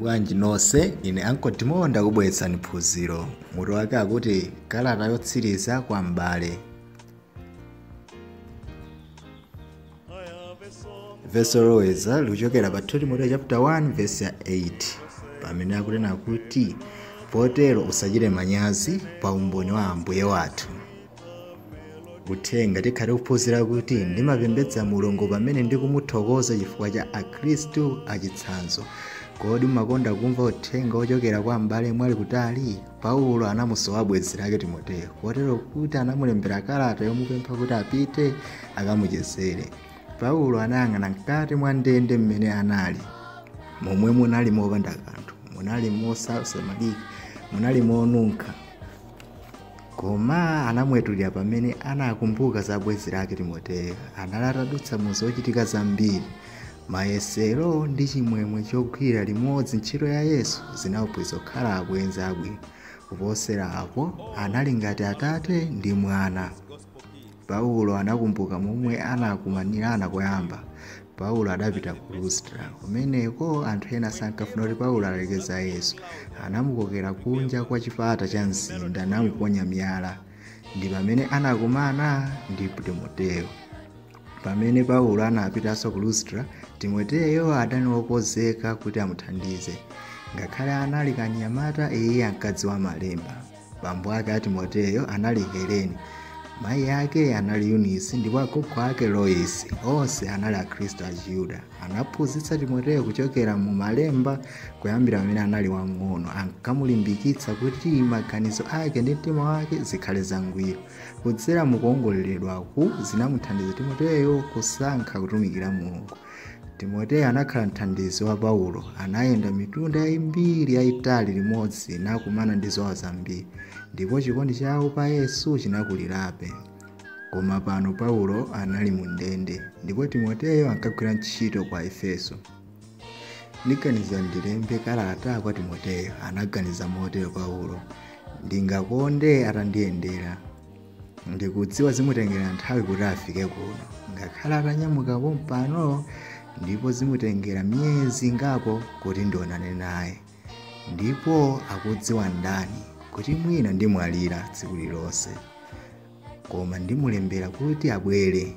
bwanji nonse ine ankolo Timo ndakubweretserani phunziro mutu wake akuti kalata yotsiriza kwa m'bale vesi loloweza likuchokera pa 2 timoteyo chapter 1 vesi ya 8 pamene akunena kuti potero usachite manyazi pa umboni wa ambuye wathu uthenga tikhale kuphunzira kuti ndimapembedza mulungu pamene ndikumuthokoza chifukwa cha akhristu achitsanzo kodi umakonda kumva uthenga wochokera kwa abale omwe ali kutali Paulo anamusowa bwenzi lake Timoteyo kotero kuti anamulembera kalata yomupempha kuti apite akamuchezere. Paulo anayang'ana mkati mwa ndende mmene anali, momwe munali mopanda kanthu, munali mosasamalika, munali monunkha. Koma anamwetulira pamene anakumbuka za bwenzi lake Timoteyo. Anali atadutsa mu zochitika zambiri. Mayesero ndi chimwemwe chogwirira limodzi ntchito ya Yesu zinawapangitsa kukhala abwenzi abwino. Kuposera apo, anali ngati atate ndi mwana. Paulo anakumbuka momwe anakumanirana koyamba. Paulo adapita ku Lustra. Kumeneko anthu ena sankafuna kuti Paulo alalike za Yesu. Anamukokera kunja kwa chipata cha mzinda namuponya miyala. Ndi pamene anakumana ndi Timoteyo. Pamene Paulo anapitanso ku Lustra, Timoteyo adali wokonzeka kuti amuthandize. Ngakhale anali kanyamata, iye ankadziwa Malemba. Bambo ake a Timoteyo anali Helene, mayi ake anali Yunisi ndipo agogo ake Loisi. Onse anali Akhristu achiyuda. Anaphunzitsa Timoteyo kuchokera mu Malemba kuyambira pamene anali wamng'ono. Ankamulimbikitsa kuti maganizo ake ndi mtima wake zikhale zangwiro. Kudzera mu kuwongoleredwaku zinamuthandiza Timoteyo kusankha kutumikira Mulungu. Timoteyo anakhala mthandizi wa Paulo, anayenda mitunda yambiri yayitali limodzi nakumana ndi zowawa zambiri, ndipo chikondi chawo pa Yesu chinakulirabe. Koma pano Paulo anali mu ndende ndipo Timoteyo ankagwira ntchito ku Efeso. ndiganiza ndilembe kalata kwa timoteyo anaganiza motero paulo ndingakonde atandiyendera ndikudziwa zimutengera nthawi kuti afike kuno ngakhale atanyamuka pompano ndipo zimutengera miyezi ngapo kuti ndionane naye ndipo akudziwa ndani kuti mwina ndimwalira tsiku lilonse koma ndimulembera kuti abwere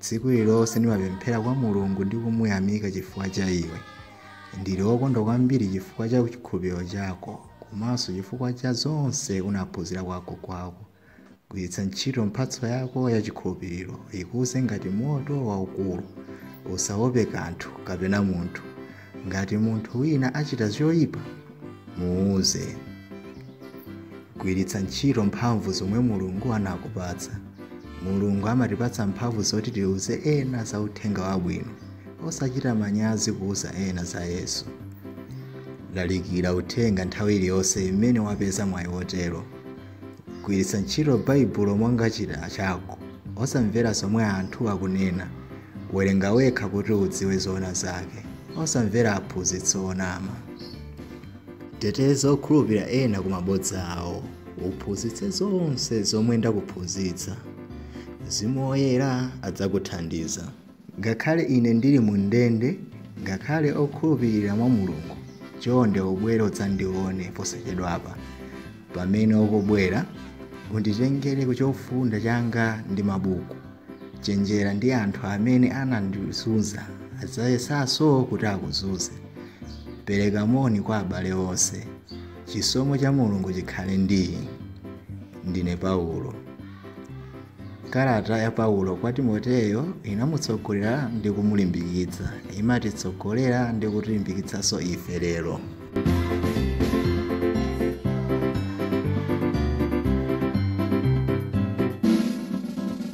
Tsiku lililonse ndimapemphera kwa Mulungu ndi kumuyamika chifukwa cha iwe. Ndili wokondwa kwambiri chifukwa cha chikhulupiriro chako komanso chifukwa cha zonse unaphunzira kwa agogo ako. Gwiritsa ntchito mphatso yako ya chikhulupiriro ikuze ngati moto waukulu. Usaope kanthu kapena munthu. Ngati munthu wina achita choipa, muuze. Gwiritsa ntchito mphamvu zomwe Mulungu anakupatsa. Mulungu amatipatsa mphamvu zoti tiuze ena za uthenga wabwino. Osachita manyazi kuuza ena za Yesu. Lalikira uthenga nthawi iliyonse imene wapeza mwayi wotero. Gwiritsa ntchito Baibulo monga chida chako, osamvera zomwe anthu akunena. Werenga wekha kuti udziwe zoona zake, osamvera aphunzitsi onama. Teteza okhulupirira ena ku mabodza awo, uphunzitse zonse zomwe ndakuphunzitsa. Mzimu Woyera adzakuthandiza. Ngakhale ine ndili mu ndende, ngakhale okhulupirira mwa Mulungu, chonde ubwere udzandione posachedwapa. Pamene ukubwera, unditengere chofunda changa ndi mabuku. Chenjera ndi anthu amene anandizunza, adzayesanso kuti akuzunze. Pereka moni kwa abale onse. Chisomo cha Mulungu chikhale ndi inu. Ndine Paulo. Kalata ya Paulo kwa Timoteyo inamutsogolera ndi kumulimbikitsa. Imatitsogolera ndi kutilimbikitsanso ife lero.